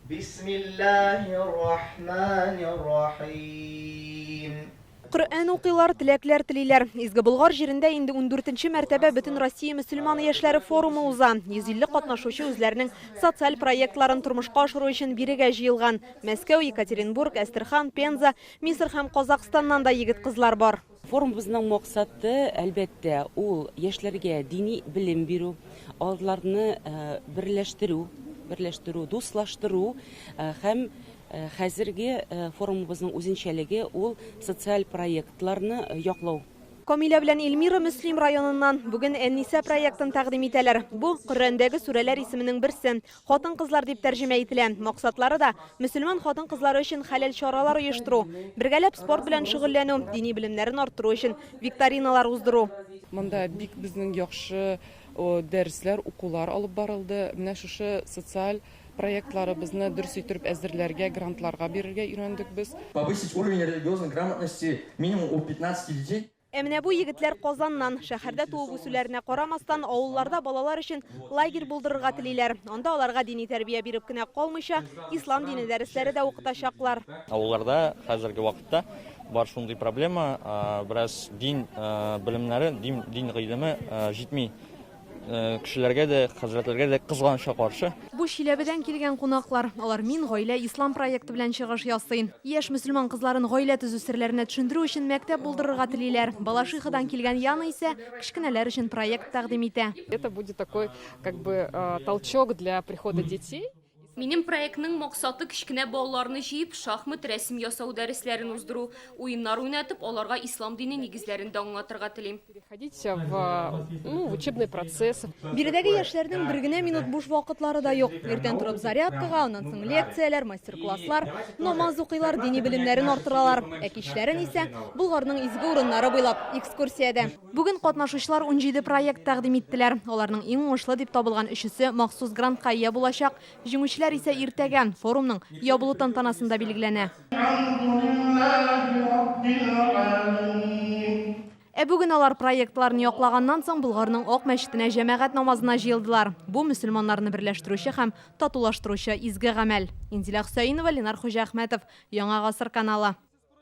Бисмиллаһир-рахманир-рахим. Коръән укыйлар, теләкләр телиләр. Изге Болгар җирендә инде ундүртенче мәртәбә Бөтенроссия мөселманы яшьләре форумы уза. 150 катнашучы үзләренең социаль проектларын тормышка ашыру өчен бирегә җыелган. Мәскәү, Екатеринбург, Әстерхан, Пенза, Мисыр һәм Казакъстаннан да егет-кызлар бар. Форумыбызның максаты, әлбәттә, ул яшьләргә дини белем бирү, аларны берләштерү, берләштерү, дуслаштыру һәм хәзерге форумыбызның үзенчәлеге ул социаль проектларны яклау. Камилә белән Эльмира Мөслим районыннан. Бүген Әннисә проектын тәкъдим итәләр. Бу, Коръәндәге сүрәләр исеменең берсе. Хатын-кызлар дип тәрҗемә ителә. Максатлары да, мөселман хатын-кызлары өчен хәләл чаралар оештыру, бергәләп спорт белән шөгыльләнү, дини белемнәрен арттыру өчен викториналар уздыру. Монда бик безнең яхшы дәресләр, укулар алып барылды. Менә шушы социаль проектларыбызны дөрес иттереп әзерләргә, грантларга бирергә өйрәндек без. Повысить уровень религиозной грамотности минимум у 15 детей. Ә менә бу егетләр Казаннан. Шәһәрдә туып-үсүләренә карамастан, авылларда балалар өчен лагерь булдырырга телиләр. Анда аларга дини тәрбия биреп кенә калмыйча, ислам дине дәресләре дә укытачаклар. Авылларда хәзерге вакытта бар шундый проблема, бераз дин белемнәре, дин гыйлеме җитми. Кешеләргә дә, хәзрәтләргә дә кызганычка каршы. Бу Чиләбедән килгән кунаклар. Алар Мин гаилә ислам проекты белән чыгыш ясый. Яшь мөселман кызларын гаилә төзү серләренә төшендерү өчен мәктәп булдырырга телиләр. Балашихадан килгән Яна исә кечкенәләр өчен проект тәкъдим итә. Это будет такой как бы толчок для прихода детей. Минем проектның максаты кечкенә балаларны җыеп, шахмат, рәсем ясау дәресләрен уздыру, уеннар уйнатып, аларга ислам дине нигезләрен дә аңлатырга телим. Биредәге яшьләрнең бер генә минут буш вакытлары да юк. Иртән торып зарядкага, аннан соң лекцияләр, мастер-класслар, намаз укыйлар, дини белемнәрен арттыралар. Ә кичләрен исә, Болгарның изге урыннары буйлап, экскурсиядә. Бүген катнашучылар унҗиде проект тәкъдим иттеләр. Аларның иң уңышлы дип табылган өчесе махсус грантка ия булачак, җиңүчеләр исә иртәгә, форумның ябылу тантанасында билгеләнә. Ә бүген алар, проектларны яклаганнан соң, Болгарның Ак мәчетенә җәмәгать намазына җыелдылар. Бу, мөселманнарны берләштерүче һәм татулаштыручы изге гамәл. Инзилә Хөсәенова, Ленар Хуҗаәхмәтов, Яңа гасыр каналы.